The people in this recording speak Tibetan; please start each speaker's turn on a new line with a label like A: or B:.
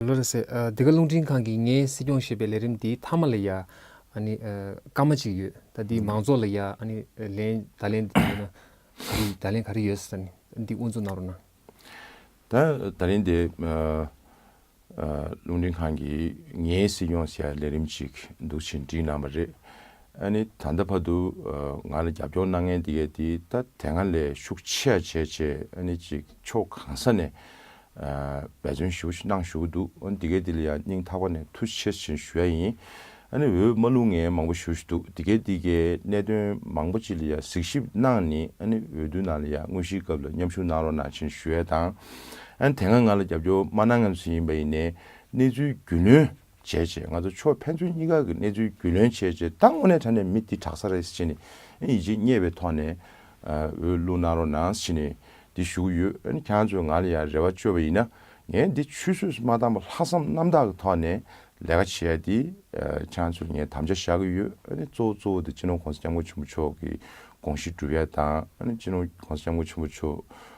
A: ལོ་རེ་ཟེར། འདི་ག་རླུང་འཕྲིན་ཁང་གིས་ངའི་སྲིད་སྐྱོང་ཞེས་པའི་ལས་རིམ་འདིའི་མཐའ་མ་ལ་ཡང། སྐར་མ་གཅིག་ཡོད། ད་འདིའི་མང་ཚོགས་ལ་ཡང། ལན། ད་ལན། ད་ལན་ག་རེ་ཡོད། འདི་དབུ་འཛུགས་གནང་རོགས་གནང། ད།
B: ད་ལན་འདི། རླུང་འཕྲིན་ཁང་གིས་ངའི་སྲིད་སྐྱོང་ཞེས་པའི་ལས་རིམ་ཅིག་འདུག་ཕྱིར་འདྲི་གནང་བ་རེད། ད་ལྟ་བར་དུ། ང་ལ་རྒྱབ་སྐྱོར་གནང་མཁན་འདི་གས་འདི་ལྟ་དེ་སྔ་ལས་ཤུགས་ཆེ་བ་བྱས་ཅེས་ཅིག་ཕྱོགས་གང་ས་ནས། འབད་བརྩོན་ཞུ་གནང་བཞུགས་འདུག་འོན་དེ་གའི་དེ་ལ་ཡང་སྙིང་ཐག་པ་ནས་ཐུགས་ཆེར་བཞིན་ཞུ་ཡ་ཡིན། ཨ་ནི་འོས་མ་ལུང་ངས་མང་པོ་ཞུ་བཞིན་འདུག་དེ་གའི་དེ་གའི་གནད་དོན་མང་པོ་ཅིག་ལ་ཡང་གཟིགས་ཞིབ་གནང་ནི་ཨ་ནི་འོས་བསྡུ་ནང་ལ་ཡང་དངོས་གཞིའི་སྐབས་ལ་མཉམ་ཞུགས་གནང་རོགས་གནང་བཞིན་ཞུ་ཡ་དང། ཨ་ནི་དེ་སྔ་ང་ལ་རྒྱབ་སྐྱོར་མ་གནང་ངམ་ཞིག་ཡིན་པ་ཡིན་ནའི་གནས་ཚུལ་རྒྱུས་ལོན། བྱས་རྗེས་ང་ཚོ་ཕྱོགས་ཕན་ཚུན་གཉིས་ཀ་གི་གནས་ཚུལ་རྒྱུས་ལོན་བྱས་རྗེས་ད་དངོས་གནས་ད་ནས་མི་འདི་དྲག་ས་རེད་ཟེར་ནས་ཡིད་ཆེས་རྙེད་པའི་ཐོག་ནས་འོས་བླུག་གནང་རོགས་གནང་ཟེར་ནས་འདི་ཞུ་གི་ཡོད། ཁྱེད་རང་ཚོས་ང་ལ་ཡང་རེ་བ་བཅོལ་བ་ཡིན་ན་ངས་འདི་ཆུད་ཟོས་སུ་མ་བཏང་བར་ལྷག་བསམ་རྣམ་དག་གི་ཐོག་ནས་ལས་ཀ་བྱེད་ཡ་འདི་ཁྱེད་རང་ཚོས་ངའི་དམ་བཅའ་བཞག་གི་ཡོད། གཙོ་བོ་གཙོ་བོ་འདི་སྤྱི་ནོར་གོང་ས་སྐྱབས་མགོན་ཆེན་པོ་མཆོག་གི་དགོངས་གཞི་སྒྲུབ་ཡ་དང་སྤྱི་ནོར་གོང་ས་སྐྱབས་མགོན་ཆེན་པོ་མཆོག